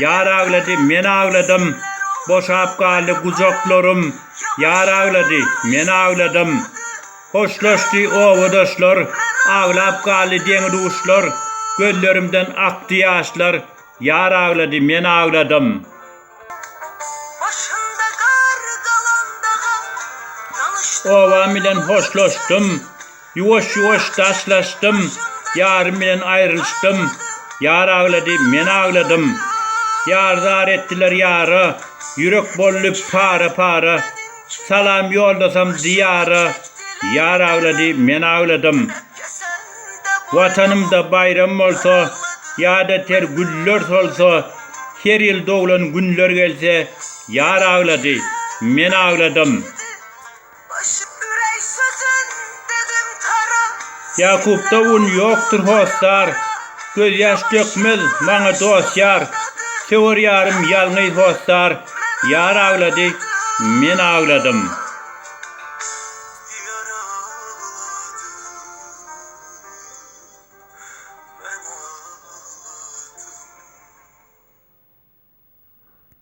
Ýar aglady, men agladym, Boşap galdy gujaklarym, Ýar aglady, men agladym. Hoşlaşdy obadaşlar, Aglap galdy deňi-duşlar, Gözlerimden akdy ýaşlar, Ýar aglady, men agladym. Obam bilen hoşlaşdym. Ýuwaş-ýuwaş daşlaşdym, ýarym bilen aýrylyşdym, Ýar aglady, men agladym. Ýar zar etdiler ýara, ýürek boldy para-para, Salam ýoldasam Diýara, ýar aglady, men agladym. Watanymda baýram bolsa, ýa-da ter güller solsa, Her ýyl doglan günler gelse, ýar aglady, men agladym. Ýakupda un ýokdur hossar, Gözýaş dökmez maňa dost-ýar. Söwer ýarym ýalňyz hossar, Ýar aglady, men agladym.